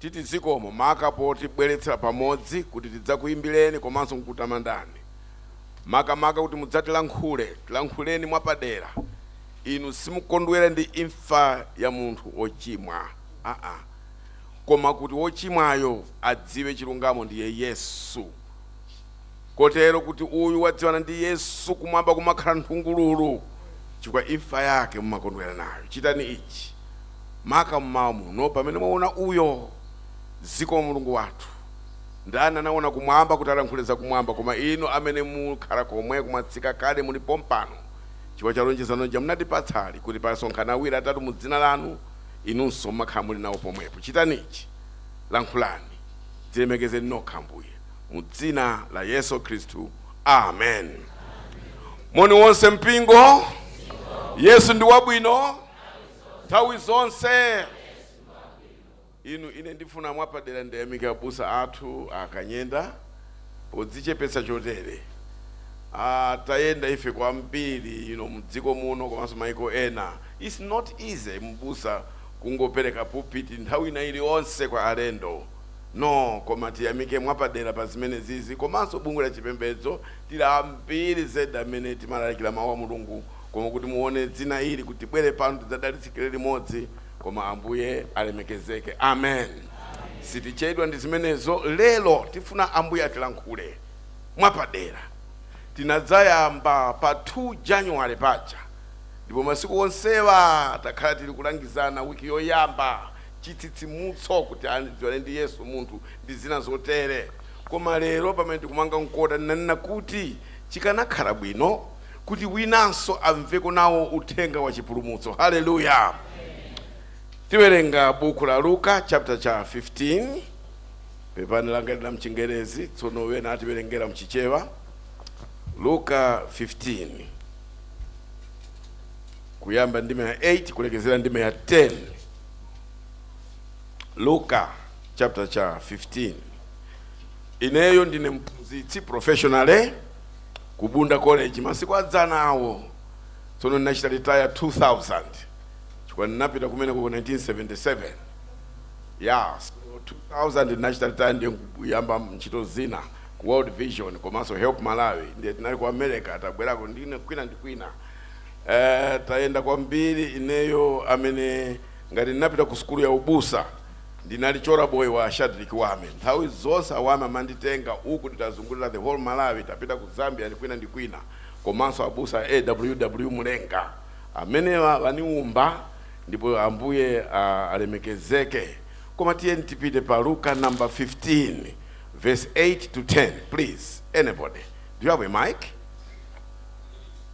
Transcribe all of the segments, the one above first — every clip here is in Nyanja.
Titi zikomo maka potibweletsela pamodzi kuti tidzakuimbileni komanso kukutamandani. Maka maka kuti mudzatilankhule, tilankhuleni mwapadera. Inu simukondwera ndi imfa ya munthu ochimwa aa. Koma kuti wochimwayo adziwe chilungamo ndiye Yesu. Kotero kuti uyu wadziwana ndi Yesu, Kumwamba kumakhala nthungululu, chifukwa imfa yake mumakondwera nayo. Chitani ichi, maka mmawa muno, pamene mwawona uyo. Zikomo, Mulungu wathu! Ndani anawona Kumwamba kuti alankhule za Kumwamba koma Inu Amene mukhala komweko, mwatsika kale, muli pompano, chifukwa cha lonjezano lija munatipatsa lija, kuti pasonkhana awiri, atatu mu Dzina Lanu, Inunso mumakhala muli nawo pomwepo. Chitani ichi. Lankhulani. Dzilemekezeni Nokha, Ambuye. mu dzina la Yesu Khristu. Amen. Moni wonse mpingo. Yesu ndi wabwino nthawi zonse. Inu ine ndifuna mwapadera ndiyamike abusa athu a Kanyenda podzichepetsa chotere. Ah, tayenda ife kwambiri ino mdziko muno komanso maiko ena. It's not easy mbusa kungopereka pulpit nthawi ina iliyonse kwa alendo. No koma tiyamike mwapadera pa zimenezizi komanso bungwe la chipembedzo tili ambiri zedi amene timalalikira mau a Mulungu koma kuti muone dzina ili kuti tibwere pano tidzadalitsikire limodzi koma Ambuye alemekezeke amen sitichedwa ndi zimenezo lero tifuna Ambuye atilankhule mwapadera tinadzayamba pa 2 January paja ndipo masiku onsewa takhala tili kulangizana week yoyamba chitsitsimutso kuti adziwane ndi Yesu munthu ndi zina zotere. Koma lero pamene tikumanga mkota ndinanena kuti chikanakhala bwino kuti winanso amveko nawo uthenga wa chipulumutso. Haleluya! Tiwerenga buku la Luka chapter cha 15 pepani langali n'la mchingerezi tsono wena atiwerengera mchichewa Luka 15 kuyamba ndime ya 8 kulekezera ndime ya 10 luka chapter cha 15 ineyo ndine mphunzitsi professionally ku bunda college masiku adzana awo tsono ndinachita retire 2000 chifukwa ndinapita kumeneku 1977 ya so 2000 ndinachita retire ndiye kuyamba ntchito zina ku world vision komanso help malawi ndiye tinali ku america tabwerako ndi kwina ndi kwina Eh, tayenda kwambiri ineyo amene ngati ndinapita ku sukulu ya ubusa ndinali chola boy wa Shadreck Wame. Nthawi zonse a Wame amanditenga uku titazungulira the whole Malawi, tapita ku Zambia ndi kwina ndi kwina komanso abusa a AWW Mulenga. Amenewa waniumba ndipo Ambuye alemekezeke. Koma tiyeni tipite pa Luka number 15 verse 8 to 10 please anybody. Do you have a mic?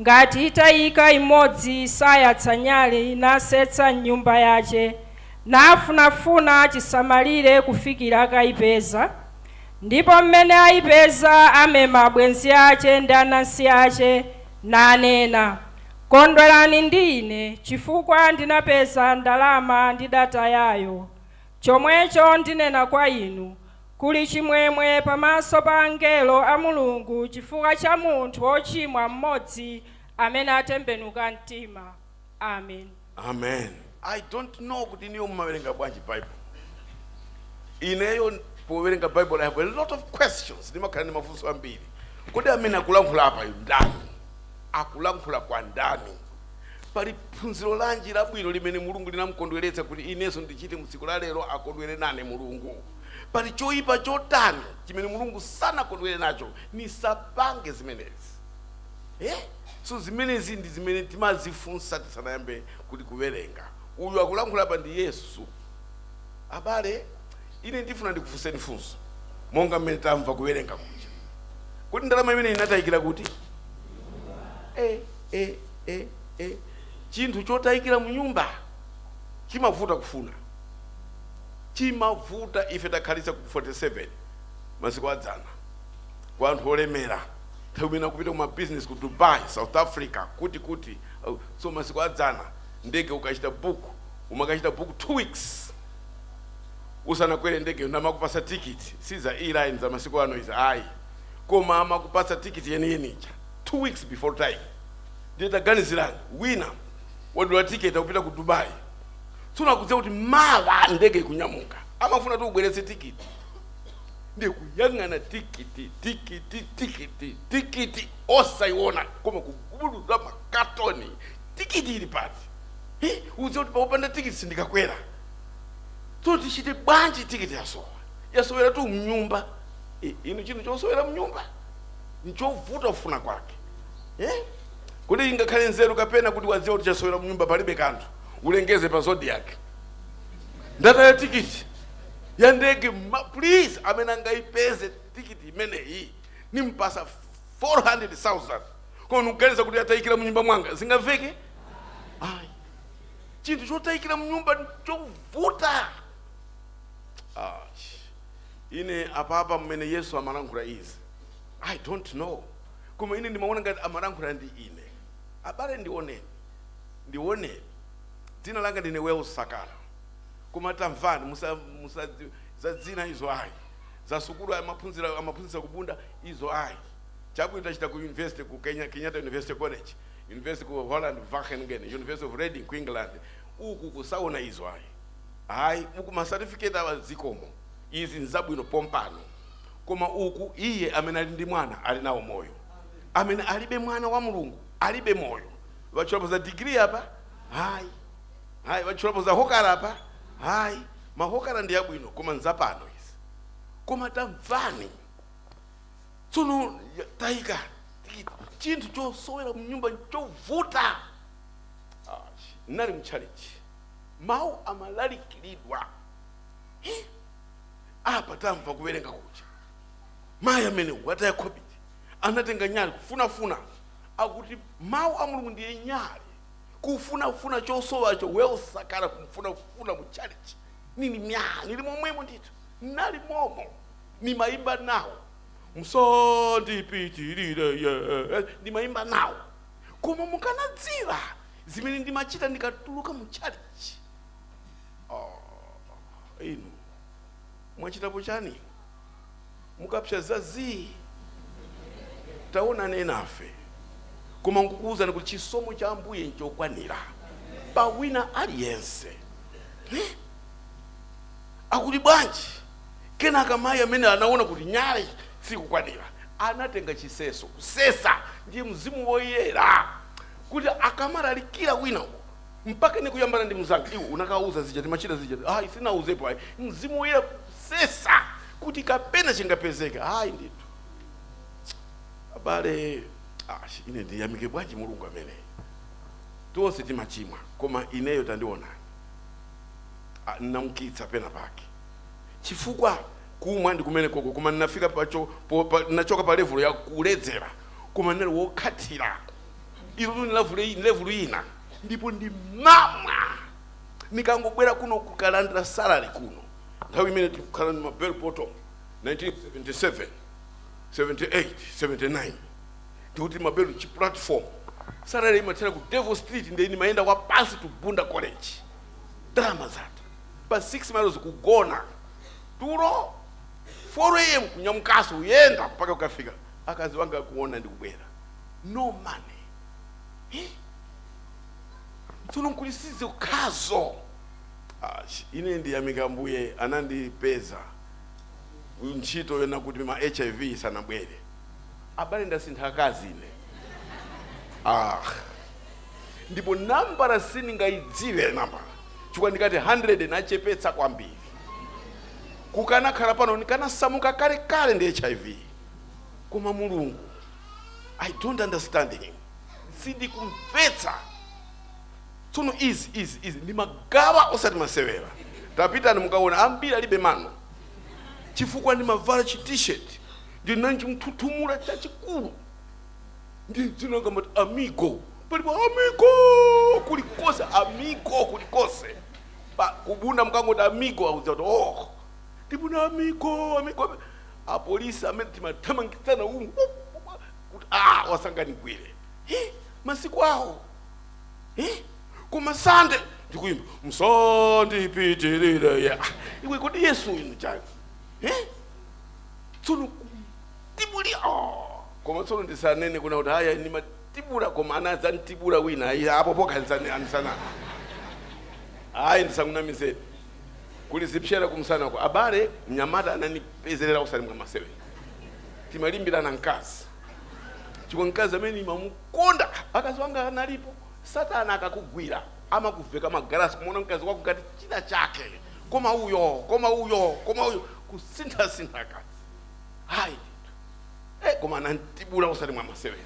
Ngati itaika imodzi sayatsa nyali, nasetsa m'nyumba yace, nafunafuna cisamalire kufikira akaipeza, Ndipo m'mene aipeza amema abwenzi ace ndi anansi ace, nanena, Kondwerani ndi ine, cifukwa ndinapeza ndalama ndidatayayo, Comweco ndinena kwa inu, Kuli chimwemwe pamaso pa angelo a Mulungu chifukwa cha munthu wochimwa mmodzi amene atembenuka mtima. Amen. Amen. I don't know kuti inuyo mumawerenga bwanji bible. Ineyo powerenga bible I have a lot of questions. Ndimakhala ndi mafunso ambiri. Kodi amene akulankhula apayu ndani? Akulankhula kwa ndani? Pali phunziro lanji labwino limene Mulungu linamkondweretsa kuti inenso ndichite mu tsiku la lero akondwere nane Mulungu? Pali choipa chotani chimene Mulungu sanakondwere nacho nisapange zimenezi? Eh? So zimenezi ndi zimene timazifunsa tisanayambe kuti kuwerenga. Uyu akulankhula apa ndi Yesu. Abale, ine ndifuna ndikufunseni funso monga mmene tamva kuwerenga kuja. Kodi ndalama imene inatayikira kuti? Eh, eh, eh, eh. Chinthu chotayikira mu nyumba chimavuta kufuna. Chimavuta ife takhalitsa ku 47 masiku a dzana kwa anthu olemera nthawi imene akupita ku mabizinesi ku Dubai, South Africa, kuti kuti au, so masiku a dzana ndege ukachita book umakachita book two weeks usanakwere ndege nde amakupasa tikiti si za online za masiku ano izi ayi koma amakupasa tikiti yeniyeni ija two weeks before time ndiye taganizirani wina wadula tiketi akupita ku dubai tsono akudziwa kuti mawa ndege ikunyamuka amafunatu ubweretse tikiti ndi kuyang'ana tikiti tikiti tikiti tikiti osayiona koma kugubuduza makatoni tikiti ili pati Hi, udziwa kuti popanda tikiti sindikakwera tsono tichite bwanji tikiti yasowa yasoweratu mnyumba Eh, inu chinthu chosowera mnyumba nchovuta kufuna kwake Eh? kodi ingakhale nzeru kapena kuti wadziwa kuti chasowera mnyumba palibe kanthu ulengeze pa Zodiak ndataya tikiti ya ndege ma- please amene angaipeze tikiti imeneyi nimpasa 400000 koma ndikuganiza kuti atayikira mnyumba mwanga zingaveke ayi chinthu chotayikira mnyumba chovuta Ah, ine apapa mmene yesu amalankhula izi i don't know koma ine ndimaona ngati amalankhula ndi ine abale ndioneni ndione. Dzina langa ndine Wells Sakala. Koma tamvani, musa, musa, za dzina izo ayi, za sukulu amaphunzira, amaphunzitsa ku Bunda izo ayi. Chabwino, tachita ku university ku Kenya, Kenyatta University College, university ku Holland, Wageningen, University of Reading ku England. Uku kusaona izo ayi. Ayi, uku ma certificate awa zikomo. Izi nzabwino pompano. Koma uku iye amene ali ndi mwana ali nawo moyo. Amene alibe mwana wa Mulungu alibe moyo watchulapo za degree apa hayi hayi watchulapo za hokara apa hayi mahokara ndi abwino koma nzapano izi koma tamvani tsono ya- tayika tikiti chinthu chosowera mnyumba chovuta Ah, nali mchalichi mawu amalalikilidwa Eh, apa tamva kuwerenga kuja mayi amene wataya khobidi anatenga nyali kufunafuna akuti mawu a mulungu ndiye nyali kufunafuna chosowacho Wells Sakala kumfunafuna mu chalichi nili mya nili momwemo ndithu nali momo nimayimba nawo msandipitirire ye ndimayimba nawo koma mukanadziwa zimene ndimachita ndikatuluka mu chalichi oh, inu mwachitapo chani mukapsa za zii taonani enafe koma nkukuwuzani kuti chisomo cha ambuye nchokwanira pa wina aliyense Eh? akuti bwanji kenaka mayi amene anaona kuti nyale sikukwanira anatenga chiseso kusesa ndi mzimu woyera kuti akamalalikira wina mpaka ine kuyambana ndi mnzanga iwe unakauza zija timachita zija ayi sinauzepo ayi mzimu woyera kusesa kuti kapena chingapezeke ayi ndithu abale ah, ine ndiyamike bwanji mulungu ameneyi tonse timachimwa koma ineyo tandionani Ah, ndinamkitsa pena pake chifukwa kumwa ndi kumene koko koma ndinafika pacho po- pa- ndinachoka pa levulo ya kuledzera koma ndinali wokhatira ilo tu ni level i- ni level ina ndipo ndi mamwa nikangobwera kuno kukalandira salary kuno nthawi imene tikukhala ni mabel bottom 1977 78 79 tikuti mabelo chi platform salary imathera ku devil street ndiye nimayenda wapansi to bunda college ndalama zatha pa 6 miles kugona tulo 4 am kunyamukaso kuyenda mpaka kukafika akazi wanga akuona ndikubwera no money Eh? tsono nkuti sizokhazo ine ndiyamika ambuye anandipeza ntchito yona kuti ma hiv isanabwere abale ndasintha akazi ine ah. ndipo nambala sindingayidziwe nambala chifukwa ndikati 100 nachepetsa kwambiri kukanakhala pano ndikanasamuka kalekale ndi hiv koma mulungu i don't understand him sindikumvetsa tsono izi izi izi ndimagawa osati masewera tapitani mukaona ambiri alibe mano chifukwa ndimavala chi t-shirt ndinanji mthuthumula chachikulu ndi dzina langa amati amigo palipo amigo kulikose amigo kulikose Pa- kubunda mkangoti amigo akudziwa kuti oh ndibuna amigo amigo apolisi amene timathamangitsana umu uh, uh, uh, kuti ah, asanganigwire Eh, masiku awo Eh, koma sande ndikuyimba msandipitirire ya iwe kodi yesu inu chani Eh? tsono tibuli oh. koma tsono ndisanene kunena kuti ayi nimatibula koma anadzantibula wina ayi apo pokha nisana nisana ayi ndisakunamizeni kuli zipsera kumsanako abale mnyamata ananipezerera osati mwamasewera timalimbirana mkazi chifukwa mkazi amene nimamukonda akazi wanga analipo satana akakugwira amakuveka magalasi kumaona mkazi wako ngati china chake koma uyo koma uyo koma uyo kusinthasintha akazi hayi ndithu eh, koma anantibula osati mwamasewera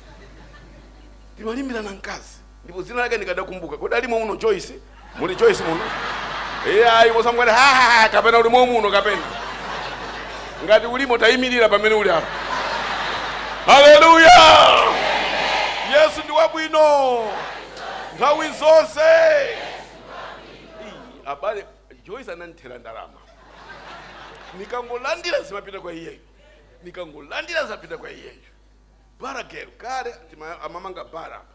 timalimbirana mkazi ndipo dzina lake ndikadakumbuka kodi alimo muno joyce muli joyce muno iye ayi musamukati hahaha kapena ulimo muno kapena ngati ulimo tayimirira pamene uli apa haleluya yesu ndi wabwino nthawi zonse Ii, abale joyce anandithera ndalama nikangolandira zimapita kwa iyeyo nikangolandira zimapita kwa iyeyo bara gel kale tima- amamanga bara apa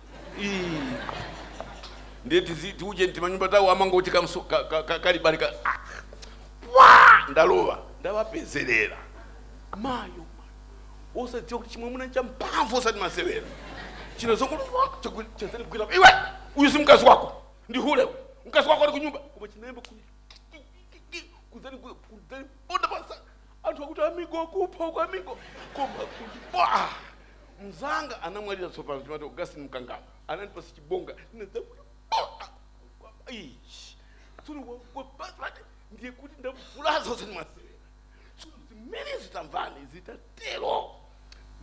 ndiye tizi- tiuje timanyumba tawo a Mangochi kamso- ka- ka- ka- kalibalika ndalowa ndawapezerera mayo osadziwa kuti chimwamuna cha mphamvu osati masewera chino chongochazandigwira iwe uyu si mkazi wako ndi hule uyu. mkazi wako ali kunyumba koma chinayamba ku- kuzani kuzandiponda pasa anthu akuti amigo kupha uko amigo koma kutibula mzanga anamwalira tsopano timati augustin mkangala anandipasa chibonga ndinadzakuti tsono wapasati ndiye kuti ndavulaza osati masewera tsono zimenezi tamvani zitatero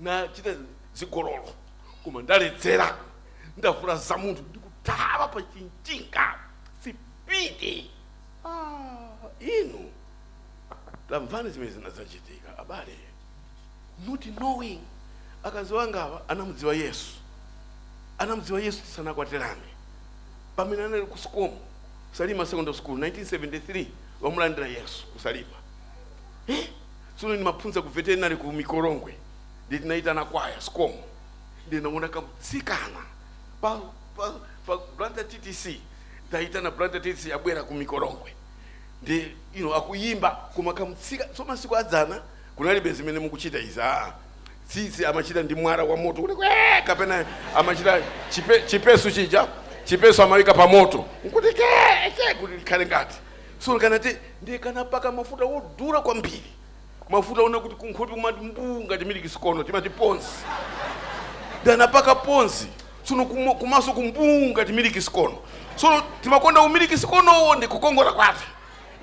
nachita zigololo koma ndaledzera ndavulaza munthu ndikuthawa pa chinthinga sipidi ah, inu tamvani zimene zinazachitika abale not knowing akazi angawa anamudziwa yesu anamudziwa yesu tisanakwatirane pamene anali ku SCOM salima secondary school 1973 wamulandira yesu kusalima eh? Tsono ndimaphunzira ku veterinary ku Mikolongwe ndiye tinayitana kwaya, SCOM, ndiye ndinawona kamtsikana pa pa pa Blantyre ttc titayitana Blantyre ttc abwera ku Mikolongwe ndiye you know akuyimba koma kamtsika so masiku adzana kunalibe zimene mukuchita izi aa tsitsi amachita ndi mwala wa moto kuti kwee kapena amachita chipe, chipesu chija chipesu amawika pa moto nkuti kee kee kuti likhale ngati Tsono kanati ndiye kanapaka mafuta wodula kwambiri, mafuta onena kuti kunkhope kumati mbuu ngati miliki sikono, timati ponzi. Ndiye kanapaka ponzi, tsono kumo, kumaso ku mbuu ngati miliki sikono. Tsono timakonda umiliki sikonowo ndi kukongola kwake.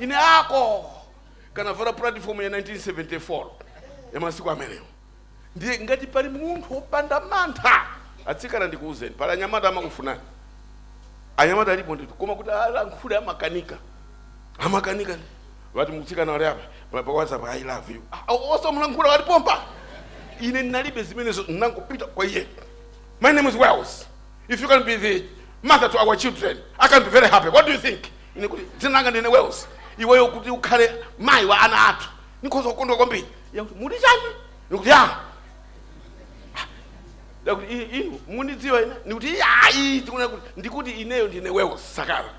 Ine ako! Kanavala pulatifomu ya 1974 ya masiku amenewo. ndiye ngati pali munthu wopanda mantha atsikana ndikuwuzeni pali anyamata amakufunani anyamata alipo ndithu koma kuti alankhule amakanika amakanika ati mtsikana wali apa pa- pa whatsapp i love you Ah, osamulankhula ali pompa ine ndinalibe zimenezo ndinangopita kwa iye my name is wells if you can be the mother to our children i can be very happy what do you think ine kuti dzina langa ndine wells iweyo kuti ukhale mayi wa ana athu ndikhoza kukondwa kwambiri akuti mukuti chani ndikuti ya akuti "I- inu mundidziwa ine ndikuti ayi tikuna kuti ndikuti ineyo ndine wells sakala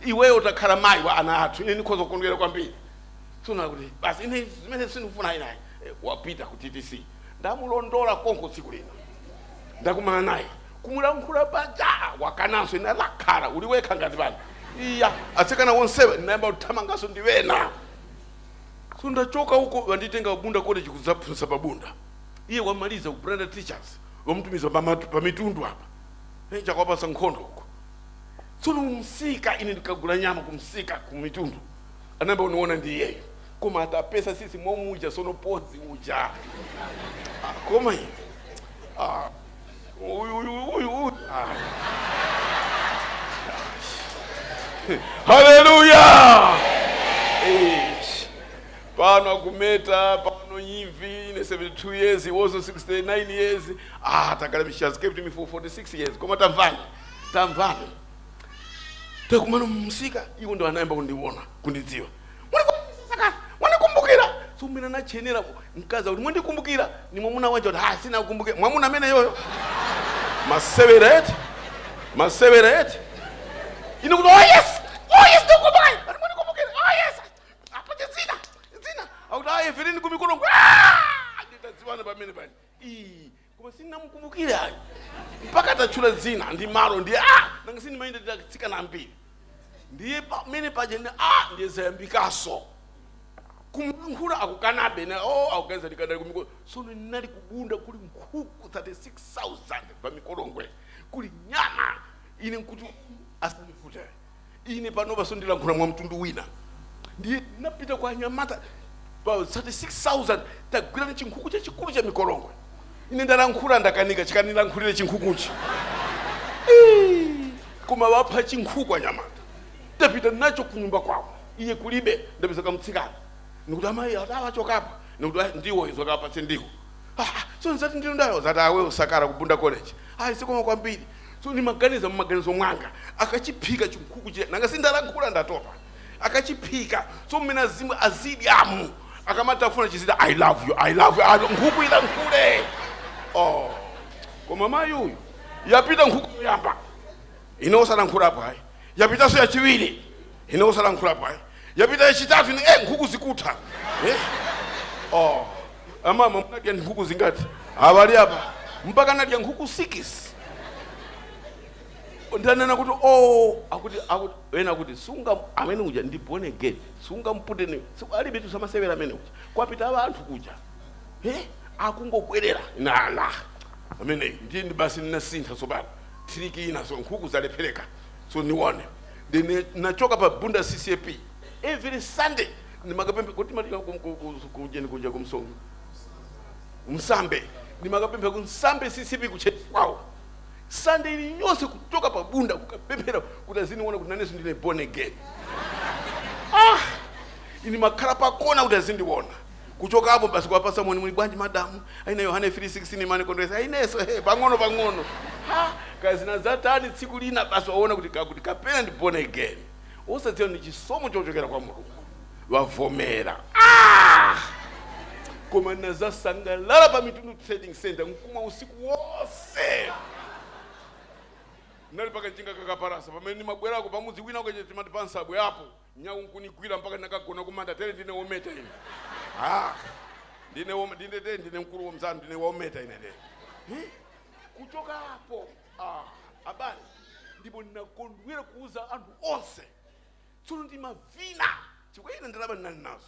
iweyo utakhala mayi wa ana athu ine ndikhoza kukondwera kwambiri tsono akuti basi ine zimenezi sindikufuna iyayi wapita ku ttc ndamulondola konko tsiku lina ndakumana naye kumulankhula paja wakananso ine wakhala uli wekha ngati pano iya atsikana wonsewa ndinayamba kuthamanganso ndi wena So ndachoka uko banditenga ku Bunda College kudzaphunzitsa pa Bunda. Iye wamaliza ku Blantyre Teachers wamutumiza pa matu- pa mitundu apa. Eh, chakwapasa nkhondo uko. Tsono mumsika ine ndikagula nyama kumsika kumitundu. Anayamba kundiona ndi iyeyo. Koma atapesa sisi mwamuja sono pozi uja. Ah, Koma iye. Ah, Uyu, uyu, uyu, uyu. Ah. Haleluya! Eish. Pano akumeta, pano imvi, ine 72 years, he was 69 years. Ah, Takalabi, she has kept me for 46 years. Koma tamvani, tamvani. Takumana mumsika, iwo ndo anayamba kundiona, kundidziwa. mwandikumbukira so ine nachenjera mkazi akuti mwandikumbukira ndi mwamuna wanji kuti ah sindinakumbukire mwamuna ameneyo masewera eti masewera eti ine kuti oh yes oh yes ndikumbukira Ati mwandikumbukira oh yes apate zina zina akuti ayi ife tinali kumikolongwe nditadziwana pamene pani Ii, koma sindinamukumbukire ayi mpaka atatchula dzina ndi malo ndiye nanga si ndimayenda ndi atsikana ambiri ndiye pamene paja ndiye zayambikaso kumlankhula akukanabe na o oh, akuganiza ndikadali kumikolongwe sono ndinali kubunda kuli nkhuku 36000 pa mikolongwe kuli nyama ine nkuti asandipute ine panopa so ndilankhula mwa mtundu wina ndiye napita kwa anyamata pa 36000 tagwirani chinkhuku chachikulu cha mikolongwe ine ndalankhula ndakanika chikanilankhulire chinkhukuchi Ii, koma wapha chinkhuku anyamata tapita nacho kunyumba kwawo iye kulibe ndapeza kamtsikana nikuti amayi ati achokapo nikuti "Ah, ndiwo izo kapatse ndiwo Ah, so uzati ndiwo ndani uzati abusa Sakala kubunda college ayi sikoma kwambiri so ndimaganiza mmaganizo mwanga akachiphika chinkhuku chija nanga si ndalankhula ndatopa akachiphika so mmene azimva azidyamu akamatafuna chizidzati i love you i love you alo nkhuku ilankhule oh koma mayi uyu yapita nkhuku yoyamba ine osalankhulapo ayi yapitaso yachiwiri ine osalankhulapo ayi yapita yachitatu ine eh, nkhuku zikutha eh? oh. amama munadya nkhuku zingati abali apa mpaka nadya nkhuku sikisi ndanena kuti oh, akuti akuti ena kuti sunga- amene uja ndi born again sungampute ni siku- alibe tusamasewera amene uja kwapita abanthu kuja eh? akungobwerera nayo amene ndiye ndi basi ndinasintha tsopano tiriki ina so nkhuku zalephereka so day one then nachoka pa bunda ccap every sunday ndimakapemphera kuti matika kujeni kuja ku- msambe ndimakapemphera kumsambe ccap kutchalitchi kwawo sunday ili yonse kuchoka pa bunda kukapemphera kuti aziniona kuti nanenso ndine born again ah ine nimakhala pakona kuti azindiona kuchokapo basi kuwapasa moni muli bwanji madamu a ine yohane 3:16 imanikondweresa a ineso he pang'ono pang'ono ha kaya zinazatani tsiku lina basi waona kuti kakuti kapena ndi born again osadziwa ndi chisomo chochokera kwa mulungu wavomera ah! koma nazasangalala pa mitundu trading center nkumwa usiku wonse nali pa kanjinga kakapalasa pamene ndimabwerako pamudzi wina ukache timati pa nsabwe apo Nyau nkunigwira mpaka ndinakagona kumanda tere ndine wometa ine ah, ndine wom- ndine tere ndine mkulu wamzanu ndine wometa ine tere Eh? kuchoka apo ah, abale ndipo ndinakondwera kuuza anthu onse tsono ndimavina chifukwa ine ndalama ndinali nazo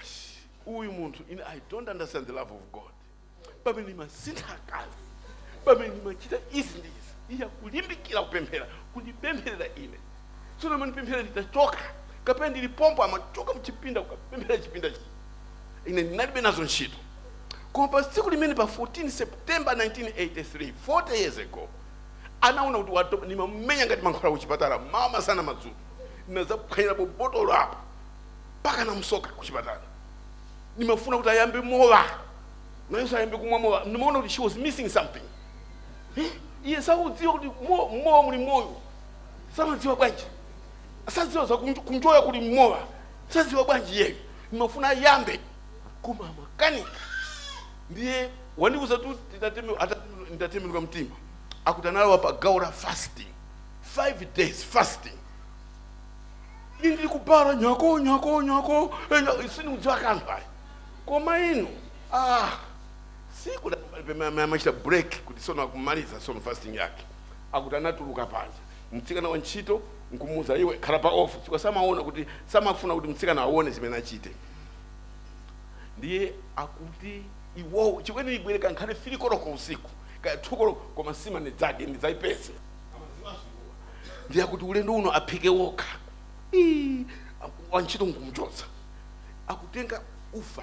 ash uyu munthu ine i don't understand the love of god pamene nimasintha akazi pamene nimachita izi ndi izi iye akulimbikira kupemphera kundipempherera ine tsono amandipempherera nditachoka kapena ndili pompo amachoka mchipinda kukapemphera chipinda chi ine ndinalibe nazo ntchito koma pa tsiku limene pa 14 september 1983 40 years ago anaona kuti watopa nimamumenya ngati mankhwala kuchipatala mmawa masana madzulo ndinazaphwanyirapo botolo apo mpaka anamusoka kuchipatala ndimafuna kuti ayambe mowa nayenso ayambe kumwa mowa ndimaona kuti she was missing something Eh, iye sakudziwa kuti mo- mmowa muli moyo samadziwa bwanji sadziwa za kunjo- kunjoya kuli mmowa sadziwa bwanji iyeyo ndimafuna ayambe koma amakanika ndiye wandiuzatu titateme- ata- nditatembenuka mtima akuti analowa pa gawo la fasting five days fasting ine ndili ku bala nyako nyako nyako eh, nyako, sindikudziwa kanthu ayi koma inu ah siku la- pe- ma- ma- machita break kuti sono akumaliza sono fasting yake akuti anatuluka panja mtsikana wa ntchito nkumuuza iwe khala pa off chifukwa samaona kuti samafuna kuti mtsikana aone zimene achite ndiye akuti iwowo chifukwa ine nibwere ngakhale fili koloko usiku kaya thu koloko koma sima nidzadye ndidzayipeze ndiye akuti ulendo uno aphike wokha Ii, aku- wantchito nkumchotsa akutenga ufa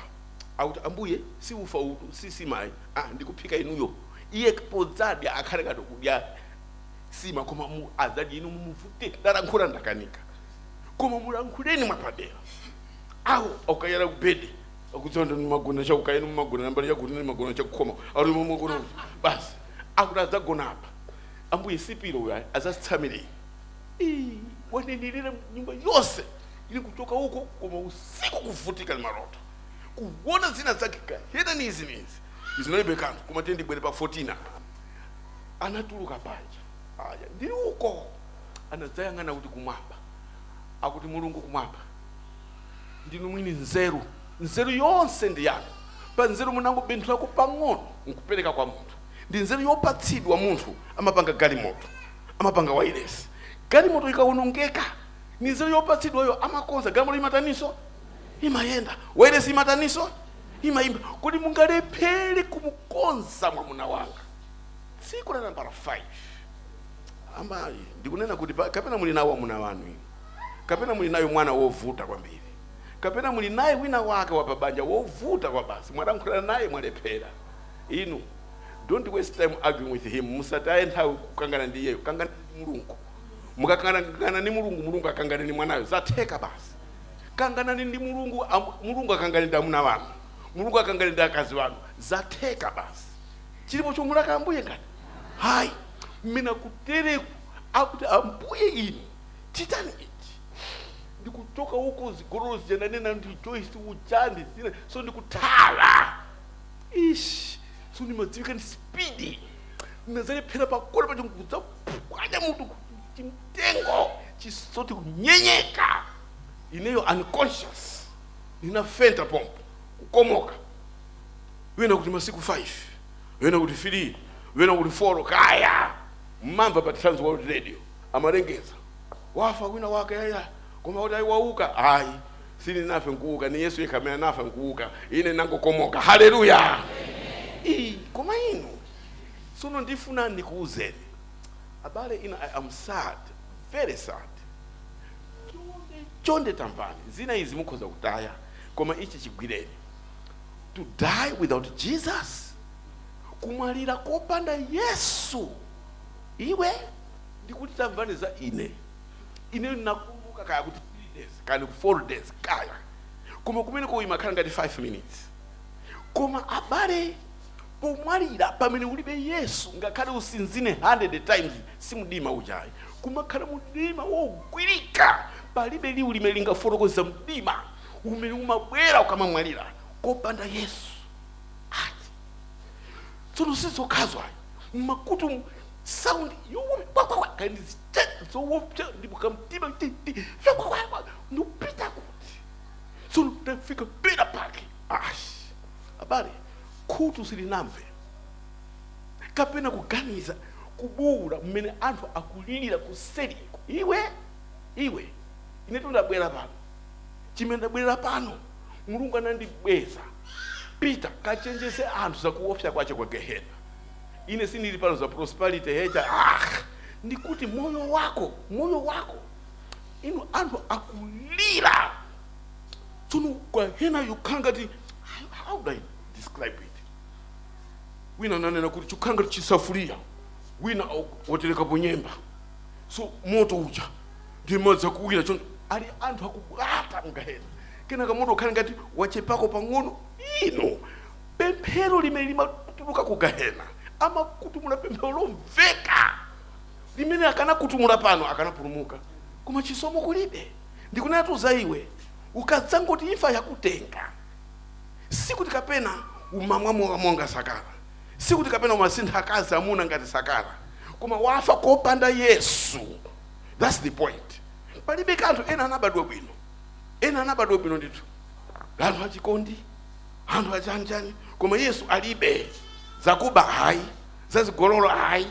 akuti ambuye si ufa uwutu si sima ayi ah, ndikuphika inuyo iye podzadya akhale ngati kudya sima koma umu adzadya inu mumuvute ndalankhula ndakanika koma mulankhuleni mwapadera awo akayala kubedi akuti sono mumagona chakukayeni mumagona nambali yakuti mumagona chakukhoma ali mumagona basi akuti adzagona apa ambuye sipiro uyu ayi, azasitsa mireyi Ii, wanenelera nyumba yonse ili kuchoka uko koma usiku kuvutika ni maloto kuona zina zake kapena ni izi ni izi izinalibe kanthu koma tiye ndibwere pa 14 apa anatuluka panja aya ndi uko anadzayang'ana kuti kumwamba akuti mulungu kumwamba ndinu mwini nzeru nzeru yonse ndi yanu pa nzeru munangobenthulako pang'ono nkupereka kwa munthu ndi nzeru yopatsidwa munthu amapanga galimoto amapanga wailesi galimoto ikawonongeka ndi nzeru yopatsidwayo amakonza galimoto imataniso imayenda wailesi imataniso imayimba kodi mungalephere kumukonza mwamuna wanga siku la nambala 5 amayi ndikunena kuti pa- kapena muli nawo amuna wanu inu kapena muli naye mwana wovuta kwambiri kapena muli naye wina wake wapabanja wovuta kwa basi mwalankhula naye mwalephera Inu don't waste time arguing with him, musataye nthawi kukangana ndi iyeyo, kanganani ndi Mulungu. Mukakangana ndi Mulungu, Mulungu akangane ndi mwanayo, zatheka basi. Kanganani ndi Mulungu, am- Mulungu akangane ndi amuna wanu, Mulungu akangane ndi akazi wanu, zatheka basi. Chilipo chomulaka Ambuye ngati hayi mmene kutereku akuti Ambuye inu chitani ichi ndikuchoka uko zigololo zija nanena ndi Joyce uja ndi zina so ndikuthala Eish, so ndimadziwika ndi speed ndinazalephera pakona paja nkudzaphwanya mutu chimtengo chisoti kunyenyeka ineyo unconscious ndinafenta pompo kukomoka wina kuti masiku 5 wina kuti 3 wina kuti 4 kaya munamva pa trans world radio amalengeza wafa wina wake yaya koma kuti ayi wauka ayi Sininafe nkuuka, ni Yesu yekha amene anafa nkuuka. Ine nangokomoka. Haleluya! Ii, koma inu. Sono ndifuna nikuuzeni. Abale, ina, I am sad, very sad. Chonde, chonde tamvani. Zina izi mukhoza kutaya, koma ichi chigwireni. To die without Jesus? Kumwalira kopanda Yesu? Iwe, ndikuti tamvani za ine. Ineyo ndinakumbuka kaya kuti 3 days kaya ndiku 4 days kaya koma kumeneko imakhala ngati 5 minutes koma abale pomwalira pamene ulibe yesu ngakhale usinzine 100 times simdima uja ayi kumakhala mdima wogwirika palibe liwu limene lingafotokoza mdima umene umabwera ukamamwalira kopanda yesu ati tsono sizokhazo ayi mmakutu sound yowo kwakwakwa kani zowopsya ndipo kamtima titi kwakwakwa ndupita kuti tsono ndafika pera pake ashi abale khutu silinamve kapena kuganiza kubuula mmene anthu akulirira kuseriko iwe iwe inetu ndabwera pano chimene ndabwerera pano mulungu anandibweza pita kachenjeze anthu zakuopsya kwache kwa gehena ine sindili pano za prosperity hecha ah ndikuti moyo wako moyo wako inu anthu akulira tsono gahena yokhala ngati how do i describe it wina ananena kuti chokhala ngati chisafuliya wina au- waterekapo nyemba so moto uja ndi madzi akuwira choncho ali anthu akubwata mgahena kenaka moto ukhale ngati wachepako pang'ono ino Pemphero limene limatuluka ku gahena, amakutumula pemphero lomveka limene akanakutumula pano akanapulumuka, koma chisomo kulibe. Ndikunenatu za iwe, ukadzangoti imfa yakutenga, sikuti kapena umamwa mowa monga Sakala, sikuti kapena umasintha akazi amuna ngati Sakala, koma wafa kopanda Yesu. That's the point. Palibe kanthu, ena anabadwa bwino, ena anabadwa bwino ndithu, anthu achikondi. anthu achanichani koma yesu alibe zakuba hayi zazigololo hayi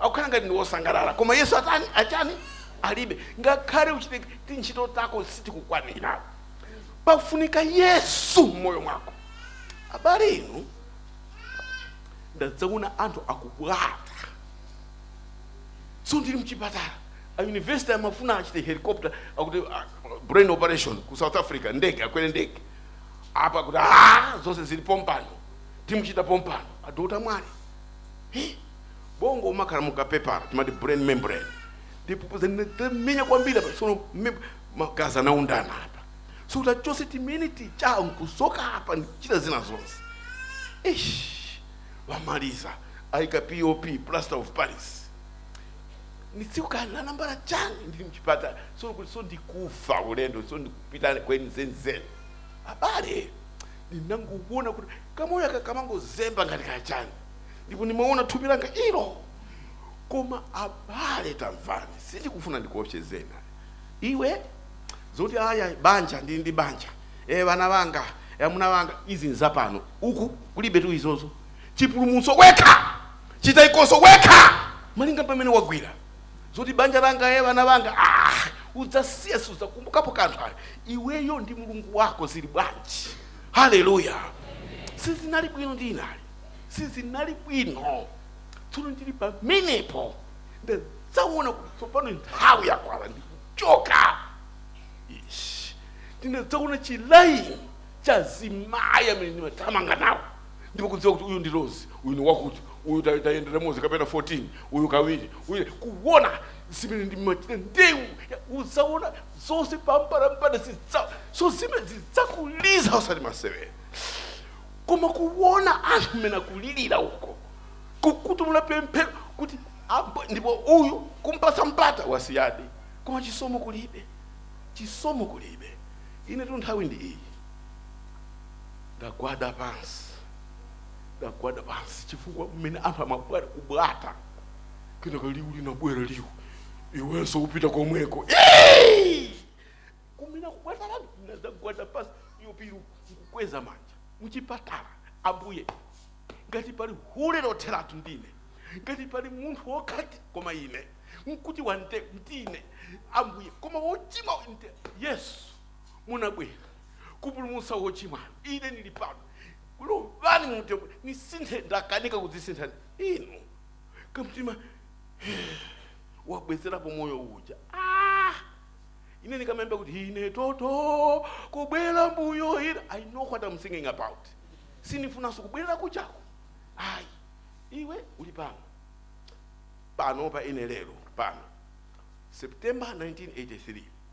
akukhala ngati ndi wosangalala koma yesu atani achani alibe ngakhale uchite tintchito tako sitikukwanira pafunika yesu mmoyo mwako abale inu ndadzaona anthu akubwata so ndili mchipatala a university amafuna achite helicopter akuti ah, brain operation ku south africa ndege akwere ndege apa kuti aa zonse zili pompano timuchita pompano adotolo Mwale Hi, bongo umakhala mukapepala timati brain membrane ndipo zinamenya kwambiri apa sono mem- magazi anaundana apa so kuti achose timene ticha nkusoka apa ndichita zina zonse ish wamaliza ayika pop plaster of paris ndi tsiku kaya la nambala chani ndili mchipatala so kuti so ndikufa ulendo so ndikupita kwenikweni zenizeni Abale, ndinangoona kuti kamoyo aka kamangozemba ngati kachani, ndipo ndimaona thupi langa ilo. Koma abale, tamvani, sindikufuna ndikuopsezeni ayi. Iwe zoti aya banja ndili ndi banja e, ana anga e, amuna anga izi nzapano uku kulibetu izozo chipulumutso wekha chitaikoso wekha malinga pamene wagwira zoti banja langa e bana banga ah, udzasiya siudzakumbukapo kanthu ayi iweyo ndi mulungu wako zili bwanji haleluya sizinali bwino ndinali sizinali bwino tsono ndili pamenepo ndadzaona kuti tsopano nthawi yakwana ndikuchoka Ish. ndinadzaona chilaini cha azimayi amene ndimathamanga nawo ndipo kudziwa kuti uyu ndi Rose uyu ndi wakuti uyu ta- tayendera limodzi kapena 14 uyu kawiri uyu kuona zimene ndimachita ndewu ya- udzaona zonse pambalambanda zidza so zimene zidzakuliza usati masewera koma kuona anthu mmene akulirira uko kukutumula pemphero kuti apo ndipo uyu kumpasa mpata wasiyadi koma chisomo kulibe chisomo kulibe ine tu nthawi ndi iyi ndagwada pansi ndagwada pansi chifukwa mmene anthu amabwera kubwata kenako liwu linabwera liwu iwenso upita komweko Eeey! kumina kubwata lanu ndagwada pansi yopiru nkukweza manja muchipatala ambuye ngati pali hule lotheratu ndine ngati pali munthu wokhati koma ine nkuti wante ndine ambuye koma wochimwa nte yesu munabwera kupulumutsa wochimwayo ine ndili pano lowani mumtima munisinthe ndakanika kudzisintha inu kamtima wabwezerapo moyo uja ah! ine ndikamayimba kuti ine toto kubwera mbuyo ine i know what i'm singing about sinifunanso kubwerera kujako ayi iwe uli pano pano pa ine lero pano september 1983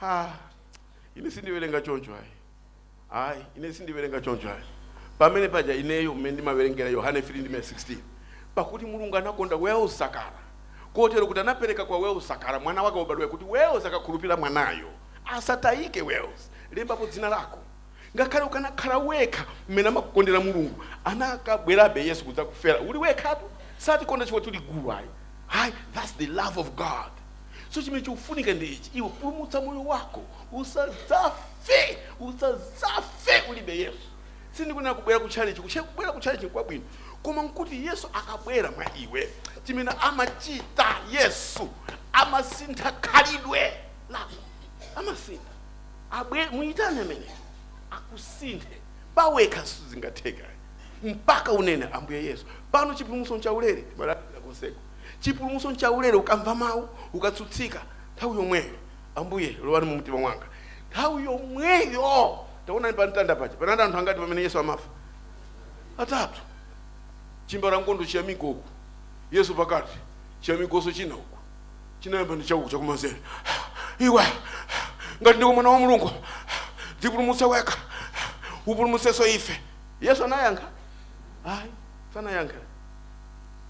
ha ine sindiwerenga choncho ayi ayi ine sindiwerenga choncho ayi pamene paja ineyo mmene ndimawerengera yohane 3 ndime 16 pakuti mulungu anakonda wels sakala kotero kuti anapereka kwa wels sakala mwana wake wobadwayo kuti wels akakhulupirira mwanayo asatayike wels lembapo dzina lako Ngakhale ukanakhala wekha mmene amakukondera Mulungu anakabwerabe Yesu kudzakufera uli wekhatu satikonda chifukwa tuli gulu ayi ayi that's the love of God so chimene chikufunika ndi ichi iwe pulumutsa moyo wako usadzafe usadzafe ulibe Yesu sindikunena kubwera ku chalichi kuche kubwera ku chalichi kwabwino koma nkuti Yesu akabwera mwa iwe chimene amachita Yesu amasintha khalidwe lako amasintha abwere muyitane ameneyo akusinthe pawekha sizingatheka mpaka unene ambuye yesu pano chipulumutso nchaulere timalalira konseko chipulumutso nchaulere ukamva mawu ukatsutsika nthawi yomweyo ambuye lowani mu mtima mwanga nthawi yomweyo taonani pa mtanda paja panali anthu angati pamene yesu amafa atatu chimbalangondo china chake uku yesu pakati chiyamikonso china uku chinayamba ndi chauku chakumanzere iwe ngati ndiko mwana wa mulungu dzipulumutse wekha upulumutsenso ife yesu anayankha ayi sanayankha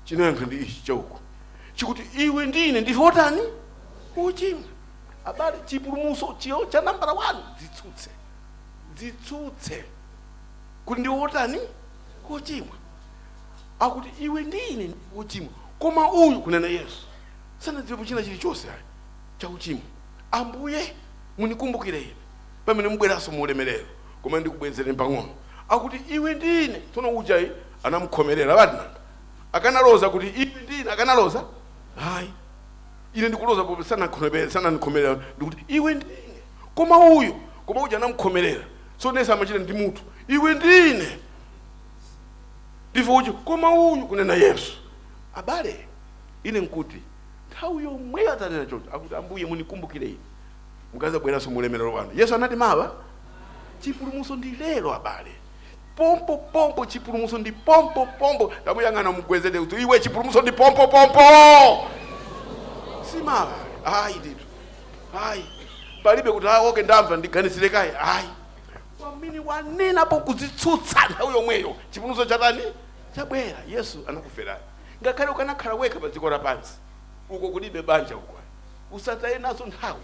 chinayankha ndi ichi chauku chikuti iwe ndi ine ndife otani ochimwa abale chipulumutso icho cha nambala 1 dzitsutse dzitsutse kuti ndiwe otani ochimwa akuti iwe ndi ine ndife ochimwa koma uyu kunena yesu sanadziwepo china chilichonse chauchimo ambuye munikumbukire ine pamene mubweranso mu ulemerero koma ndikubwezere pang'ono akuti iwe ndi ine tsono ujayi anamukhomerera badnanga akanaloza kuti iwe ndi ine akanaloza ayi ine ndikuloza pope sanandikhomerere ndikuti iwe ndi ine koma uyu koma uja anamukhomerera tsono ndiyesa amachita ndi mutu iwe ndi ine ndife uchi koma uyu kunena yesu abale ine nkuti nthawi yomweyo atanena choncho akuti ambuye munikumbukire ine mukazabweranso mu ulemerero wanu yesu anati mawa chipulumuso ndi lero abale pompo pompo chipulumuso ndi pompo pompo tamuyang'ana mugwedeze kuti iwe chipulumuso ndi pompo pompo simawa ayi ndithu ayi palibe kuti ah okay ndamva ndiganizire kaye ayi pamene wanenapo kudzitsutsa nthawi yomweyo chipulumutso chatani chabwera yesu anakuferani ngakhale ukanakhala wekha pa dziko lapansi uko kulibe banja uko usataye nazo nthawi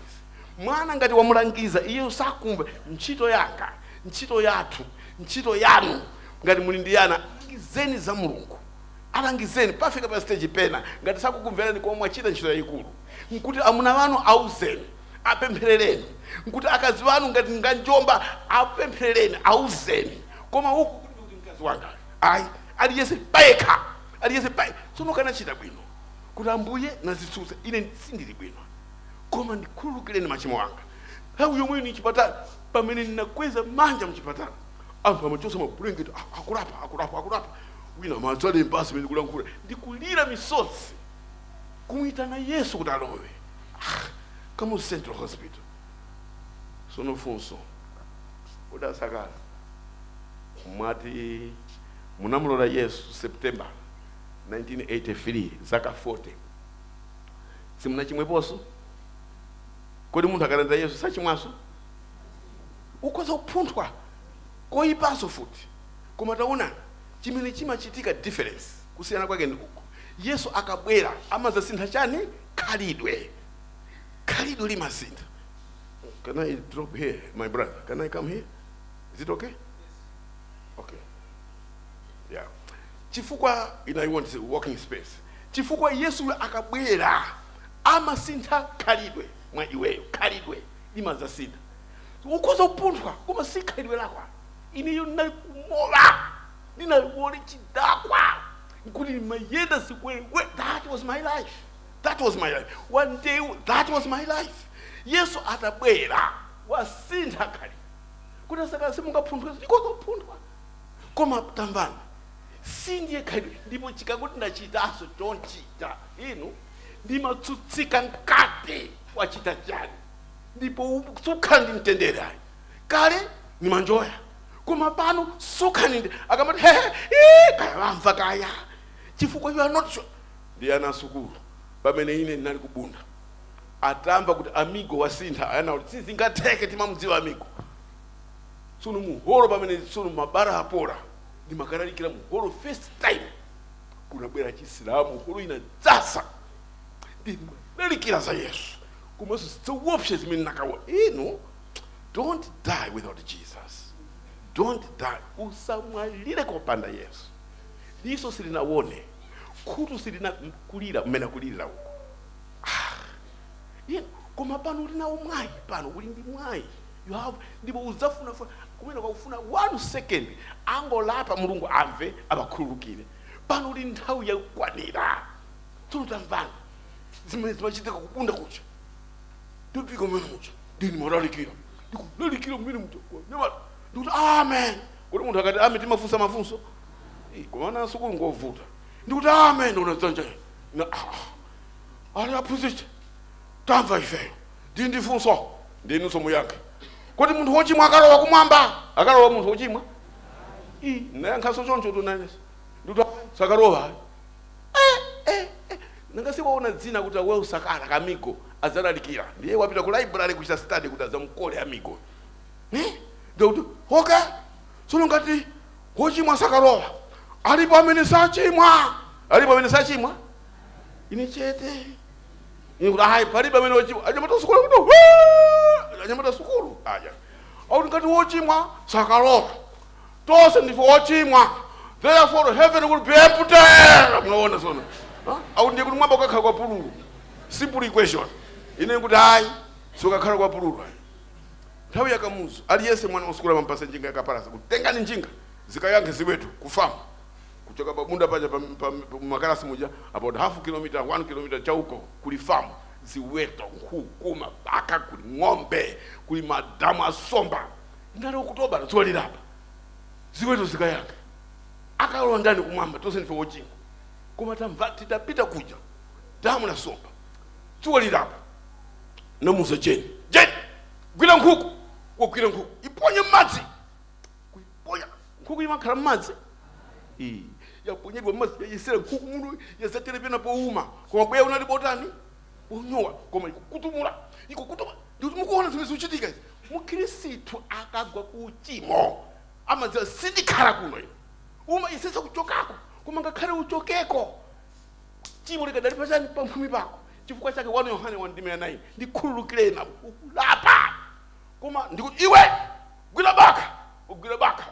mwana ngati wamulangiza iye sakumva ntchito yanga ntchito yathu ntchito yanu ngati muli ndi ana alangizeni za mulungu alangizeni pafika pa stage pena ngati sakukumverani koma mwachita ntchito yayikulu nkuti amuna wanu auzeni apempherereni nkuti akazi wanu ngati nganjomba apempherereni auzeni koma uku kuti kuti mkazi wanga ayi aliyese payekha aliyese paye tsono akanachita bwino kuti ambuye ndazitsutsa ine sindili bwino koma ndikhululukireni machimo anga nthawi yomweyo mchipatala pamene ndinakweza manja mchipatala anthu amachosa mabulengeti ah akulapa akulapa akulapa wina amadzalemba mmene kulankhula ndikulira misozi kumuyitana yesu kuti alowe ah, kamuzu central hospital sono funso kodi a Sakala mwati munamulola yesu september 1983 zaka 40 simunachimweponso kodi munthu akalandira yesu sachimwanso ukhoza kuphunthwa koyipanso futi koma taonani chimene chimachitika difference kusiyana kwake ndi uku yesu akabwera amadzasintha chani khalidwe khalidwe limasintha can i drop here my brother can i come here is it okay okay yeah chifukwa ine I want walking space chifukwa yesu akabwera amasintha khalidwe mwa iweyo khalidwe limadzasintha ukhoza kupunthwa koma si khalidwe lako ineyo ndinali kumowa ndinali hule chidakwa nkuti ndimayenda zikwekwe that was my life that was my life one day that was my life yesu atabwera wasintha khalidwe kodi a Sakala simungaphunthwe ndikhoza kuphunthwa koma tamvani si ndiye khalidwe ndipo ukati ndachitanso chonchita inu ndimatsutsika mkati wachita chiyani ndipo sukhala ndi mtendere ayi kale nimanjoya koma pano sukaninde akamati hehe ii, kaya wamva kaya chifukwa you are not sure ndi ana asukulu pamene ine ndinali ku Bunda atamva kuti amigo wasintha anati sizingatheke timamudziwa amigo tsono muholo pamene tsono mabala apola ndimakalalikira muholo first time kunabwera achisilamu holo inadzaza ndimalalikira za yesu komanso zinthu zoopsa zimene nakaona inu don't die without jesus don't die usamwalire kopanda yesu diso silinawone khutu silinakulira mmene akulirira uko Ye- koma pano uli nawo mwayi pano uli ndi mwayi you have ndipo udzafunafuna kumeneko akufuna one second angolapa mulungu amve awakhululukire pano uli nthawi yakukwanira tsono tamvani zimene zimachitika ku Bunda kuja ndifika mmene muja ndinimalalikira ndikulalikira mmene muja kwa anyamata ndikuti amen kuti munthu akati amen timafunsa mafunso Eh, koma ana asukulu ngovuta ndikuti amen ndikuona dzanja ine. na ah, ali aphunzitsi tamva ifeyo tili ndi funso ndinunso muyankhe kuti munthu wochimwa akalowa kumwamba akalowa munthu wochimwa Ih, nayankhanso choncho tunenetsa ndikuti sakalowa ayi eh, eh, eh. nanga si waona dzina kuti la Well Sakala Kamigo adzalalikira ndiye wapita ku library kuchita study kuti adzamkole Amigo Eh? Ndiye kuti okay tsono ngati wochimwa sakalowa alipo amene sachimwa alipo amene sachimwa ine chete ine kuti ayi palibe amene wochimwa anyamata sukulu kuti "Waa!" anyamata sukulu aja akuti ngati wochimwa sakalowa Tonse ndife ochimwa, therefore heaven will be empty! Munaona sono? Huh? Au ndiye kuti mwamba kukakhala kwa pululu. Simple equation. Ine nikuti ayi, sukakhala kwa pululu ayi. Nthawi ya Kamuzu, aliyense mwana wa sukulu amampatsa njinga yakapalasa kuti tengani njinga zikayankhe ziweto ku farm kuchoka pa Bunda paja pa- pa- pa- makalasi muja about half kilometer one kilometer chauko kuli farm ziweto nkhuku mabakha kuli ng'ombe kuli madamu asomba ngati okutobala dzuwa lilapa ziweto zikayankhe akalowa ndani kumwamba tonse ndife ochimwa koma tamva tidapita kuja damu la somba dzuwa lilapa namuuza jeni jeni gwira nkhuku wagwira nkhuku iponye mmadzi kuiponya nkhuku imakhala mmadzi Ee, yaponyedwa mmadzi yayesera nkhuku muno yadzatera pena pouma koma bweya unali botani wonyowa koma ikukutumula ikukutumula ndikuti mukuona zimene zikuchitika izi mukhristu akagwa ku uchimo amadziwa sindikhala kuno ine umayesetsa kuchokako koma ngakhale uchokeko chimo likadali pachani pamphumi pako chifukwa chake 1 yohane 1:9 ndikhululukireni apo ukulapa koma ndikuti iwe gwira bakha wagwira bakha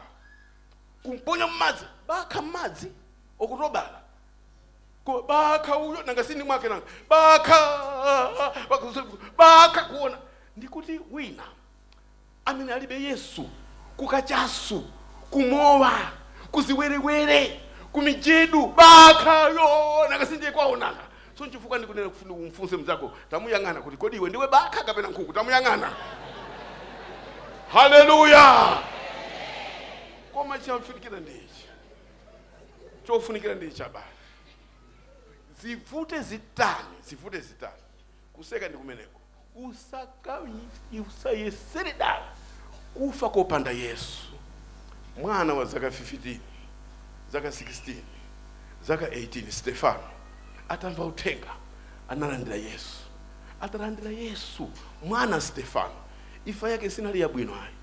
kumponya mmadzi bakha mmadzi okutobala Ko bakha uyo nanga si ndi mwake nanga bakha bakha kuona ndikuti wina amene alibe yesu kukachasu kumowa kuziwerewere kumijedu bakhayo nanga si ndiye kwao nanga so nchifukwa ndikunena kufuna umfunse mzako tamuyang'ana kuti kodi iwe ndiwe bakha kapena nkhuku tamuyang'ana haleluya koma chofunikira ndi ichi chofunikira ndi ichi abale zivute zitani zivute zitani kuseka ndi kumeneko usakayi- usayesere dala kufa kopanda yesu mwana wa zaka 15 zaka 16 zaka 18 stefano atamva uthenga analandira yesu atalandira yesu mwana stefano imfa yake sinali yabwino ayi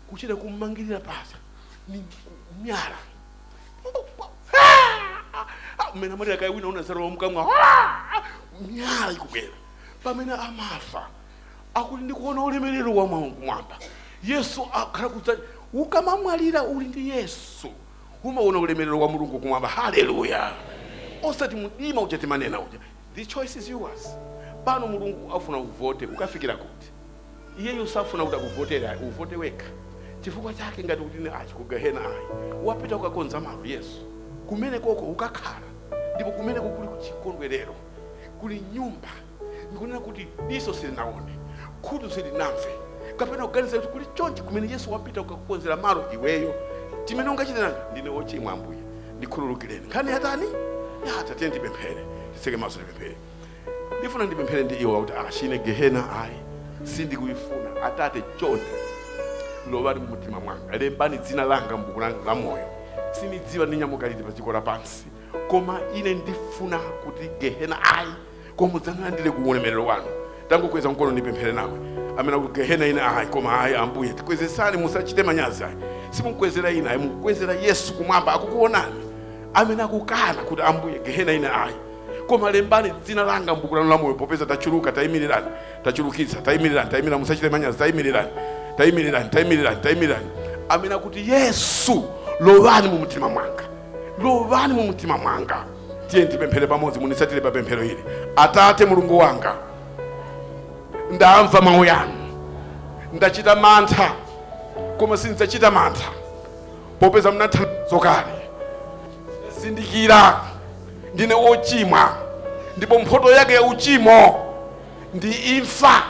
kuchita kummangirira pasa ni miyala mmene amalira kaya wina unazalowa mkamwa miyala ikubwera pamene amafa akuti ndikuona ulemerero wa Mulungu kumwamba yesu akhala kudza ukamamwalira uli ndi yesu umaona ulemerero wa mulungu kumwamba haleluya osati mdima uja timanena uja the choice is yours pano mulungu afuna uvote ukafikira kuti iyeyo safuna kuti akuvotere ayi uvote wekha chifukwa chake ngati ukuti ine achi kugehena ayi wapita kukakonza malo yesu kumenekoko ukakhala ndipo kumeneko kuli kuchikondwerero kuli nyumba ndikunena kuti diso silinaone khutu silinamve kapena kuganiza kuti kuli chonchi kumene yesu wapita kukakukonzera malo iweyo chimene ungachitirana ndine ochimwa ambuye ndikhululukireni nkhani yatani yatha tiyeni tipemphere titseke maso tipemphere ndifuna ndipemphere ndi iwe ukuti achi ine gehena ayi sindikuyifuna atate chonde lowani mumtima mwanga lembani dzina langa mbuku la moyo sinidziwa ndinyamuka liti pa dziko lapansi koma ine ndifuna kuti gehena ayi koma mudzandilandire ku ulemerero wanu tangokweza mkono ndipemphere nawe amene ukuti gehena ine ayi koma ayi ambuye tikwezesani musachite manyazi ayi simukwezera ine ayi mukwezera yesu kumwamba akukuonani amene akukana kuti ambuye gehena ine ayi koma lembani dzina langa m'buku lanu la moyo popeza tachuluka tayimirirani tachulukitsa tayimirirani tayimirirani musachite manyazi tayimirirani tayimirirani tayimirirani tayimirirani amene akuti yesu lowani mu mtima mwanga lowani mu mtima mwanga tiye tipemphere pamodzi munitsatire pa pemphero ili atate mulungu wanga ndamva mawu yanu ndachita mantha koma sindidzachita mantha popeza mnathandizo kale zindikira ndine wochimwa ndipo mphoto yake ya uchimo ndi imfa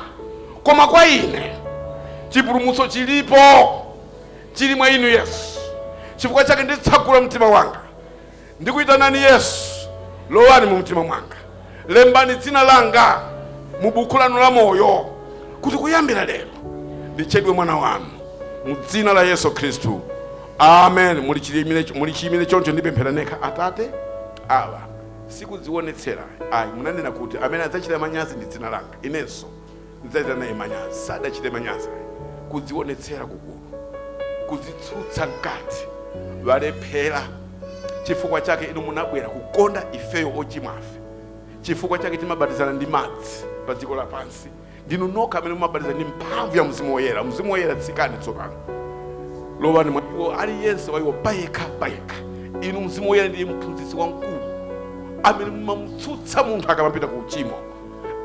koma kwa ine chipulumutso chilipo chili mwa inu yesu chifukwa chake nditsegula mtima wanga ndikuyitanani yesu lowani mu mtima mwanga lembani dzina langa mu buku lanu la moyo kuti kuyambira lero nditchedwe mwana wanu mu dzina la yesu khristu Amen. Muli chiyimire choncho ndipemphera nekha Atate. Awa sikudziwonetsera. Ayi munanena kuti amene adzachita manyazi ndi dzina langa. Inenso ndidzachita naye manyazi. Sadachite manyazi. Kudziwonetsera kugulu. Kudzitsutsa mkati. Walephera. Chifukwa chake inu munabwera kukonda ifeyo ochimwafe. Chifukwa chake timabatizana ndi madzi pa dziko lapansi. Ndinu nokha amene mumabatiza ndi mphamvu ya Mzimu Woyera. Mzimu Woyera, tsikani tsopano, lowani mwa iwo, aliyense wa iwo payekha payekha. Inu Mzimu Woyera ndiye mphunzitsi wamkulu amene mumamutsutsa munthu akamapita ku uchimo,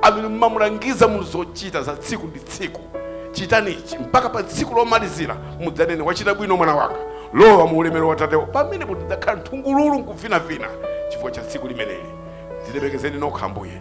amene mumamulangiza munthu zochita za tsiku ndi tsiku. Chitani ichi mpaka pa tsiku lomalizira mudzanene, wachita bwino mwana wanga, lowa mu ulemerero wa Tatewo. Pamenepo idzakhala nthungululu nkuvinavina chifukwa cha tsiku limeneli. Dzilemekezeni nokha Ambuye.